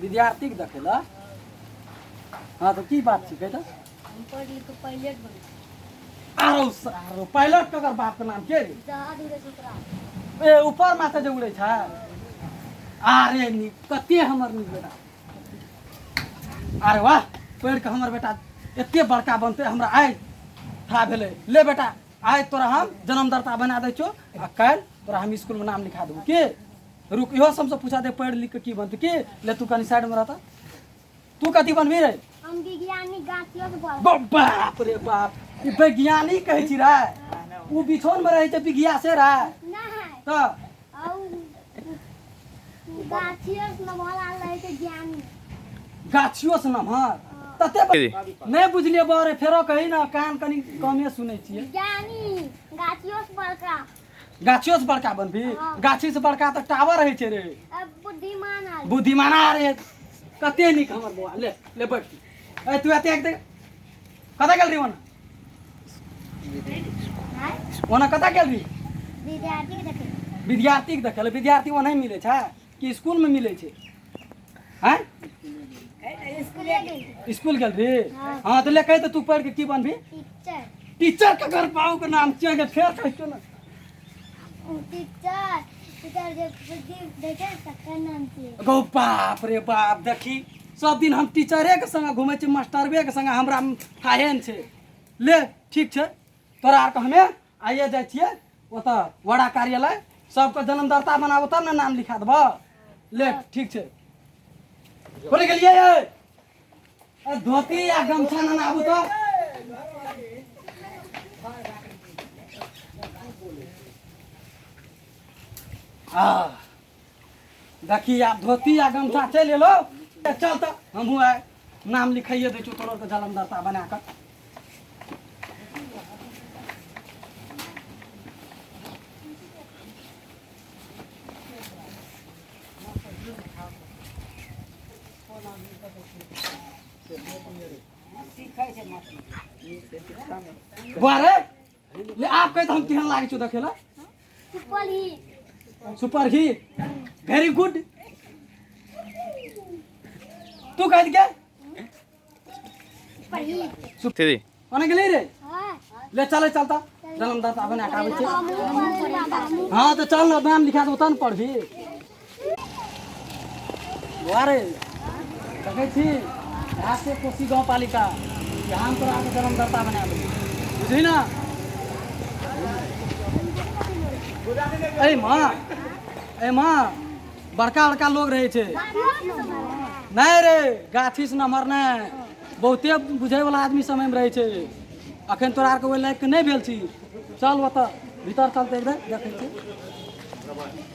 विद्यार्थी के देखे ला हाँ तो की बात छिकै तो हम पढ़ लिख के पायलट बन आरो स- आरो पायलट ककर बाप के नाम के रे जहाज उड़े सुतरा ए ऊपर माथा जे उड़े छै अरे नी कते हमर नी बेटा अरे वाह पढ़ के हमर बेटा एते बड़का बनते हमरा आइ था भेलै ले बेटा आइ तोरा हम जन्मदाता बना दै छौ आ काल्हि तोरा हम स्कूलमे नाम लिखा देबौ की रुक इहो से हमसे पूछा दे पढ़ लिख के की बनते की ले तू कनी साइड में रहता तू कथी बनबी रे हम विज्ञानी गाछियों के बोल बा- बाप रे बाप ई वैज्ञानिक कहै छी रे उ बिछौन में रहै छै विज्ञासे रे ना है त और गाछियों से बोला रहे थे ज्ञानी गाछियो से नमहर तते ब- नहि बुझलिए बारे फेरो कही ना कान कनी कमे सुनै छियै ज्ञानी गाछियों से बड़का गाछियो से बड़का बनबी हाँ। गाछी से बड़का तऽ टावर रहै छै रे अब बुद्धिमान आ बुद्धिमाना रे कते नीक हमर बौआ ले ले बैठ ए तू एते एक देख कतऽ गेल रही ओना हाँ? ओना कतऽ गेल रही विद्यार्थी के देखे विद्यार्थीके देखै लए विद्यार्थी ओना मिलै छै कि स्कूल में मिले छे हैं स्कूल गल रे हाँ तो ले कहे तो तू पढ़ के की बनबी टीचर टीचर के घर पाऊ के नाम चल गए फेर कह क्यों ना टीचर टीचर जब बुद्धि देखे तकर नाम की गो बाप रे बाप देखी सब दिन हम टीचरे के संग घूमे छी मास्टरवे के संग हमरा फाहेन छे ले ठीक छे तोरा आर के हमे आइए जाइ छिए ओतऽ वडा कार्यालय सबके जन्म दर्ता बनाबो तब ने नाम लिखा देबऽ ले ठीक छै बोले गेलिए ए धोती या गमछा न आबू तो आ देखी आब धोती आ गमछा चलि एलो ए, चल तऽ हमहूँ आइ नाम लिखाइए दै छियौ तोरो के जलम दर्ता बना कऽ बौआ रे ले आप कहे तो हम केहन लागे छो देखे ला सुपर ही सुपर ही वेरी गुड तू कह दिया सुपर ही दीदी ओने गेले रे हां ले चले चलता जन्मदाता अपन हटावे छे हम हां तो चल नाम लिखा दो तन पढ़ भी वारे देखै छी यहाँ से कोसी गाँव पालिका यहाँ हम तोरा के जन्म दर्ता बना देबी बुझली ना ए माँ ए माँ बड़का बड़का लोग रहे छे नहीं रे गाछी से नमहर नहीं बहुते बुझे वाला आदमी समय में रहे छे अखन तोरा आर के ओहि लायक के नहीं भेल छी चल ओतऽ भीतर चलते एकदम देखै छी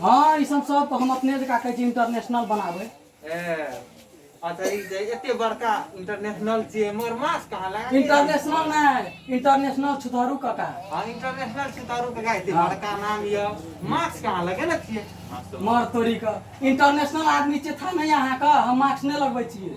हाँ ई सब सब हम अपने जका कहै छी इंटरनेशनल बनाबै अच्छा ई जे एते बड़का इंटरनेशनल छियै मगर मास कहाँ लगा इंटरनेशनल नहि इंटरनेशनल छुतहरू कका हाँ इंटरनेशनल छुतहरू कका एते हाँ। बड़का नाम ये मास कहाँ लगे ने छियै मर तोरी के इंटरनेशनल आदमी छियै था नहि अहाँके हम मास्क नहि लगबै छियै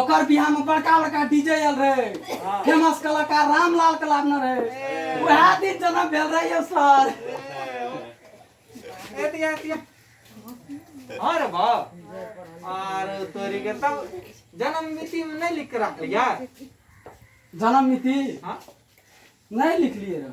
ओकर बियाह में बड़का बड़का डीजे आयल रहे फेमस कलाकार रामलाल के लादने रहे वएह दिन जन्म भेल रहे यौ सर एतिया एतिया हर बा आर तोरी के तब जन्म मिति में नहीं लिख के रख यार जन्म मिति हाँ नहीं लिखलिए रहे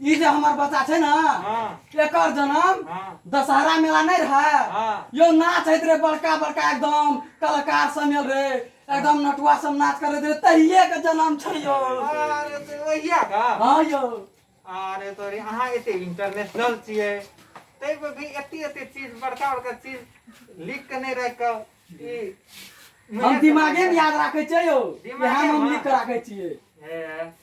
ई जे हमर बच्चा छै ने एकर जन्म दशहरा मेला नहीं रहे यो नाच होइत रहे बड़का बड़का एकदम कलाकार सब मिल रहे एकदम नटुआ सब नाच करैत रहे तहिए के जन्म छै यो अरे तो वहिया का हाँ यो अरे तो रे अहाँ एते इंटरनेशनल छियै तै पर भी एते एते चीज बड़का बड़का चीज लिख के नहीं रख के ई हम दिमागे में याद राखे छियै यो दिमागे यहाँ हम में। लिख के राखे छियै ए,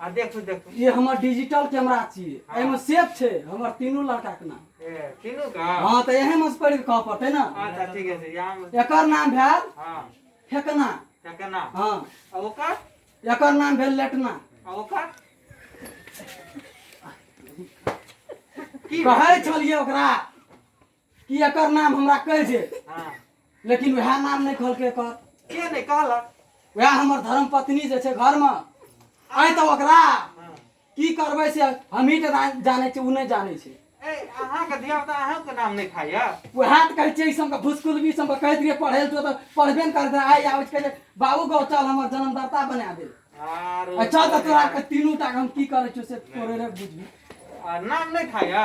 आ देखू देखू ये हमर डिजिटल कैमरा छियै हाँ। एहिमे सेफ छै हमर तीनू लड़का के नाम ए, तीनू का हँ तऽ एहे मे से पढ़ि कऽ कहऽ पड़तै ने अच्छा ठीक है यहाँ में एकर नाम भेल हाँ फेकना ठकना हँ आ ओकर एकर नाम भेल लेटना आ ओकर की कहै छलियै ओकरा कि एकर नाम हमरा कहि दे हाँ लेकिन वएह नाम नहि कहलकै एकर के नहीं कहलक वएह हमर धर्म पत्नी जे छै घरमे आइ तऽ ओकरा हाँ की करबै से हमही टा ना- जानै छी ओ नहि जानै छै ए अहाँ के धिया पुता अहाँ के नाम नहीं खाया वएह तऽ कहै छै ई सबके भुसकुलबी सबके कहैत रहिए पढ़ै लए जो तऽ पढ़बे ने करतै आइ आबै छै कहै बाबू गौ चल हमर जन्मदाता बना दे आरो आ चल तऽ तोरा के तीनू टा के हम की करै छियौ से तोरे रे बुझबी आ, नाम नहीं खाया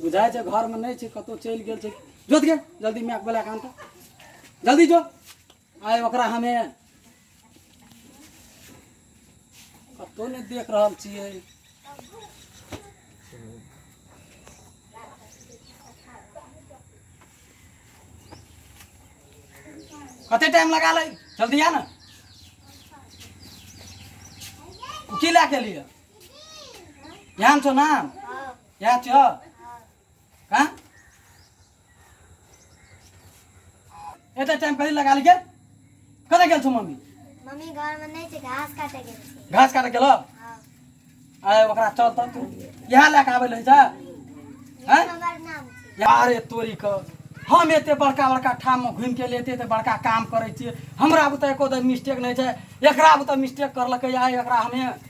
बुझाइ छै घरमे नहि छै कतहु चलि गेल छै जोत गे जल्दी मैक बोला कऽ आनता जल्दी जो आइ ओकरा हमे कतहु नहि देख रहल छियै कते टाइम लगा लै जल्दी आ ने की लए के लिए यहाँ छो ना यहाँ छो कहाँ एटा टाइम पहले लगा लिखे कते गेल छो मम्मी मम्मी घर में नहीं छे घास काटे गेल छे घास काटे गेलो हाँ। अरे ओकरा चल त तू यहाँ लेके आबे ले जा हैं हमार नाम छे यार ए तोरी क हम एते बड़का बड़का ठाम में घूम के लेते एते बड़का काम करे छी हमरा बुते एको दे मिस्टेक नहीं छै एकरा बुते मिस्टेक करलकै या एकरा हमे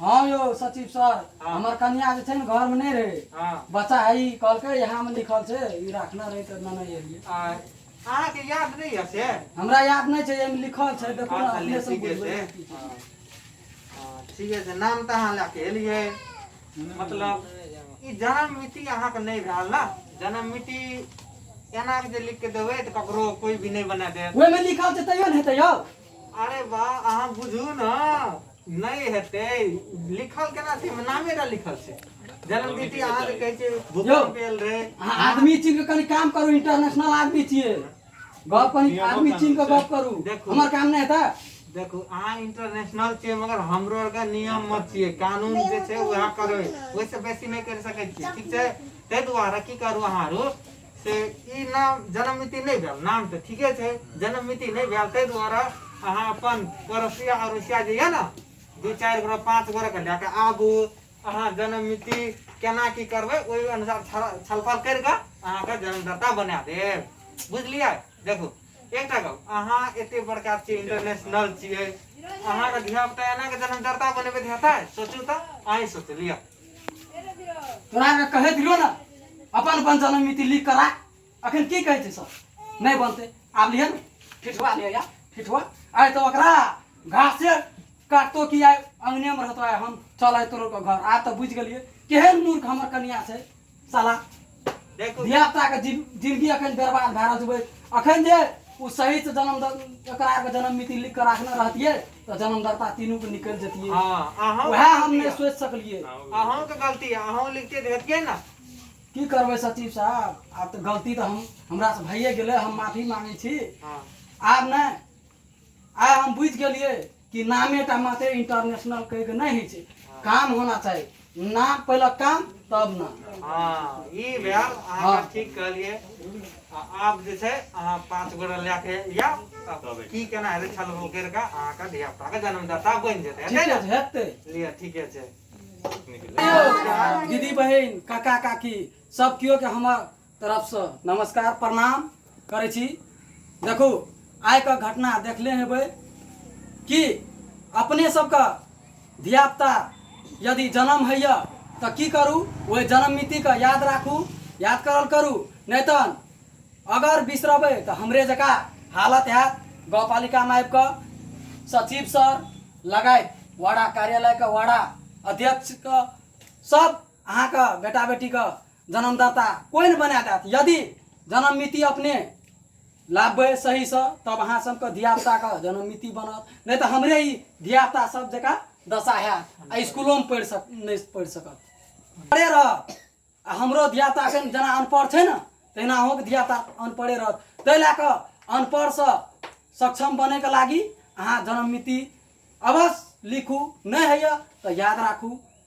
हाँ यो सचिव सर हाँ। हमर कन्या जे छै ने घर में नहीं रहे हाँ। बच्चा है ई कहलकै यहाँ में लिखल छै ई राखना रहे त ना नहीं एलिए आय अहाँ के याद नहीं है से हमरा याद नहीं छै एमे लिखल छै देखो ना हाँ, अपने से ठीके बुझबै छै। की छै। हाँ। हाँ, ठीके छै नाम तऽ अहाँ लए के एलियै मतलब ई जन्म मिति अहाँके नहि भेल ने जन्म मिति एना के जे लिख के देबै तऽ ककरो कोई भी नहि बना देत ओहिमे लिखल छै तैयो ने हेतै यौ अरे वाह अहाँ बुझू ने नहि हेतै लिखल केना छै एहिमे नामे टा लिखल छै जन्मतिथि अहाँ जे कहै छै भूकंप भेल रहै अहाँ आदमी चीन के कनी काम करू इंटरनेशनल आदमी छियै गप कनी नियमो आदमी कानून चीन के छै। गप करू देखू। हमर काम नहि हेतै देखू अहाँ इंटरनेशनल छियै मगर हमरो आरके नियम मत छियै कानून जे छै उएह करबै ओहिसँ बेसी नहि करि सकै छियै ठीक छै ताहि दुआरे की करू अहाँ आरू से ई नाम जन्म मिति नहि भेल नाम तऽ ठीके छै जन्म मिति नहि भेल ताहि दुआरे अहाँ अपन पड़ोसिया अड़ोसिया जे यए ने दू चारि गोरा पाँच गोराके लए कऽ आबू अहाँ जन्म मिति केना की करबै ओहि अनुसार छल- छलफल करि कऽ अहाँके जन्मदाता बना देब बुझलियै देखू एकटा गप अहाँ एते बड़का छियै इंटरनेशनल छियै अहाँके धियापुता एना कऽ जन्मदाता बनेबै तऽ हेतै सोचू तऽ अहीं सोचू लिअ तोरा के कहे दियो ना अपन अपन जन्म मिति लिख करा अखन की कहे छै सब नहीं बनते आब लिहन ठिठुआ लिया या ठिठुआ आय तो ओकरा घास से काटतो कि आय अंगने में रहतो आय हम चल आय तोरो के घर आ तो बुझ गेलिए केहन मूर्ख हमर कन्या छै साला देखू धियापुताके जिन जिनगी एखन बर्बाद भए रहल छै ओहि- एखन जे ओ सहीसँ जन्म एकरा आरके जन्म मिति लिख कऽ राखने रहतियै तऽ जन्मदाता तीनूके निकलि जतियै हाँ अहाँ उएह हम नहि सोचि सकलियै अहाँ के गलती है अहाँ लिखते तो हेतिए ना की करबै सचिव साहब आब तऽ गलती तऽ हम हमरासँ भइए गेलै हम माफी मांगै छी हाँ आब नहि आइ हम बुझि गेलियै कि नामे टा मात्र इंटरनेशनल कहि के नहीं है काम होना चाहिए नाम पहले काम तब नाम हाँ ये भेल हाँ। ठीक कहलिए आप जे छै अहाँ पाँच गोरा लए के या की केना हेतै छल बोकर का अहाँ का धिया पुता का जन्मदाता बनि जेतै हेतै ने हेतै लिअ ठीके छै दीदी बहन काका काकी सब केओ के हमर तरफसँ नमस्कार प्रणाम करै छी देखू आइके घटना देखले हेबै कि अपने सबके धियापुता यदि जन्म होइए तऽ की करू ओहि जन्म मितिके याद राखू याद करल करू नहि तऽ अगर बिसरबै तऽ हमरे जकाँ हालत हैत गाउँपालिकामे आबि कऽ सचिव सर लगायत वडा कार्यालयके वडा अध्यक्षके सब अहाँके बेटा बेटीके जन्मदाता कोइ नहि बना देत यदि जन्ममिति अपने लाबबै सहीसँ तब अहाँ सभके धियापुताके जन्ममिति बनत नहि तऽ हमरे ई धियापुता सभ जकाँ दशा हैत आ इसकुलोमे पढ़ि सक नहि पढ़ि सकत पढ़े रहत आ हमरो धियापुता एखन जेना अनपढ़ छै ने तहिना अहूँके धियापुता अनपढ़े रहत ताहि लए कऽ अनपढ़सँ सक्षम बनैके लागी अहाँ जन्ममिति अवश्य लिखू नहि होइए तऽ याद राखू